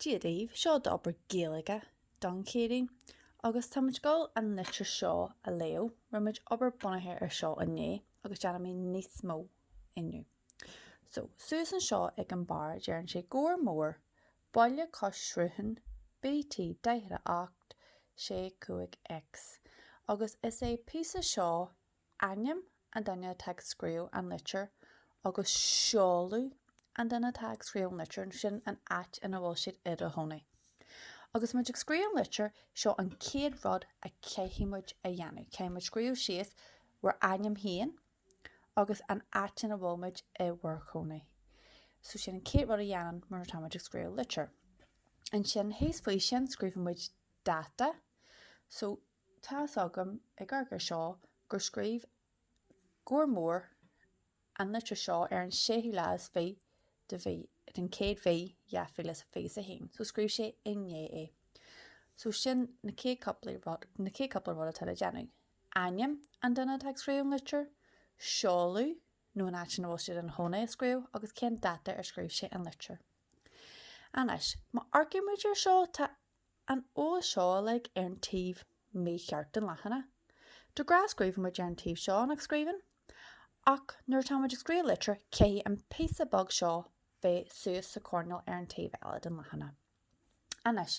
Dia daoibh, seo d'obair Gaeilge don Chéadaoin agus táimid ag dul an litir seo a léamh. Rinne muid obair bunaithe ar seo inné agus déanfaimid níos mó inniu. So, suas anseo ag an barr deireann sé Gabhar Mór, Baile Cois Sruthán, BT48, 65X agus is é píosa seo ainm an duine atá ag scríobh an litir agus seoladh an duine atá ag scríobh an litir, nó sin an áit ina bhfuil siad ina chónaí. Agus muid ag scríobh an litir, seo an chéad rud a chaithfidh muid a dhéanamh, caithfidh muid scríobh síos bhur ainm féin agus an áit ina bhfuil muid i bhur gcónaí. So sin an chéad rud a dhéanann muid nuair atá muid ag scríobh litir. Ansin thíos faoi sin scríobhann muid dáta. So. Tá's agam ag amharc ar seo gur scríobh Gabhar Mór an litir seo ar an séú lá is fiche de mhí, den chéad mhí dhá mhíle is a fiche is a haon, so scríobh sé inné é. So sin na chéad cúpla rud atá le déanamh. Ainm an duine atá ag scríobh an litir, seoladh nó an áit ina bhfuil siad ina chónaí a scríobh agus cén dáta ar scríobh sé an litir. Anois, má amharcaimid ar seo tá an eolas uilig ar an taobh mícheart den leathanach. De ghnáth scríobhaimid ar an taobh seo nach scríobhann, ach nuair atáimid ag scríobh litir, caithfidh an píosa beag seo bheith suas sa choirneál ar an taobh eile den leathanach. Anois,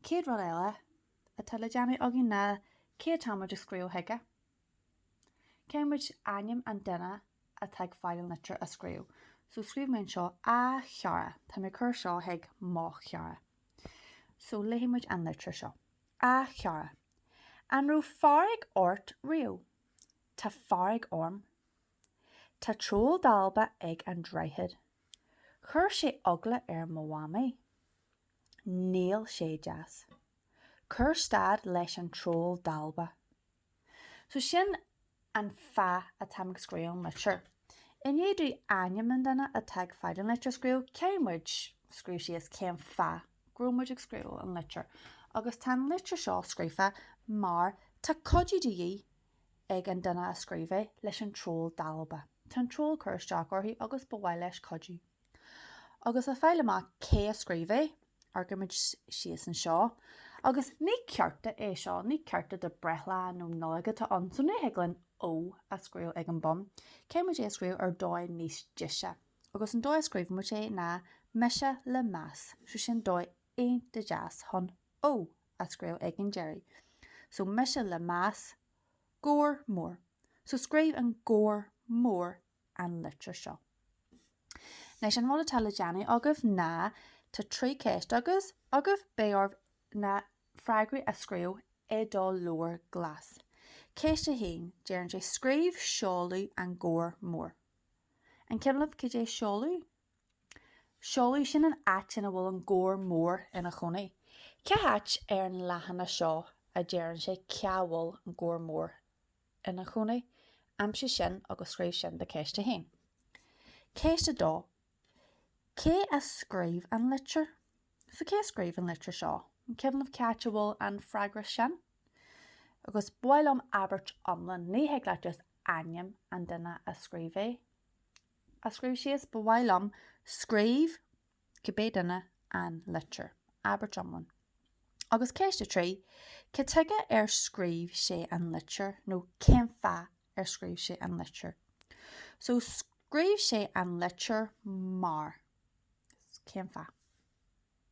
chéad rud eile atá le déanamh againn ná, cé atáimid ag scríobh chuige? Caithfidh muid ainm an duine atá ag fáil an litir a scríobh. So, scríobh mé anseo, A Chara. Táim ag cur seo chuig mo chara. So, léifidh muid an litir seo. A Chara. An raibh fearg ort riamh? Tá fearg orm. Tá troll dalba ag an droichead. Chuir sé eagla ar mo mhamaí. Níl sé deas. Cuir stad leis an troll dalba. So sin an fáth atá mé ag scríobh an litir. I ndiaidh dúinn ainm an duine atá ag fáil an litir a scríobh, caithfidh muid scríobh síos cén fáth go raibh muid ag scríobh an litir, agus tá an litir seo scríofa mar tá cuidiú de dhíth ag an duine a scríobh é leis an troll dalba. Tá an troll ag cur isteach uirthi agus ba mhaith leis cuidiú. Agus le fáil amach cé a scríobh é, amharcaimid síos anseo. Agus ní cárta é seo, ní cárta do breithlá nó Nollaig atá ann, so ní thig linn ó a scríobh ag an bun. Caithfimid é a scríobh ar dóigh níos deise. Agus an dóigh a scríobhaimid é ná Mise le meas, so sin dóigh iontach deas chun ó a scríobh ag an deireadh. So Mise le meas, Gabhar Mór. So scríobh an Gabhar Mór an litir seo. Anois, an rud atá le déanamh agaibh ná, tá trí cheist agaibh, agaibh, beidh oraibh na freagraí a scríobh i do leabhar glas. Ceist a haon, deireann sé, scríobh seoladh an Ghabhair Mhóir. An cuimhin libh cad é seoladh? Seoladh, sin an áit ina bhfuil an Gabhar Mór ina chónaí. Cá háit ar an leathanach seo a deireann sé cá bhfuil an Gabhar Mór? ina chónaí. Aimsigh sin agus scríobh sin do Cheist 1. Ceist 2 Cé a scríobh an litir? So, cé a scríobh an litir seo? Cuimhnigh c'áit a bhfuil an freagra sin. Agus ba mhaith liom abairt iomlán, ní thig leat just ainm an duine a scríobh é a scríobh síos, ba mhaith liom scríobh cibé duine an litir, abairt iomlán. Agus ceist a trí, cad chuige ar scríobh sé an litir nó cén fáth ar scríobh sé an litir? So, scríobh sé an litir mar. Cén fáth?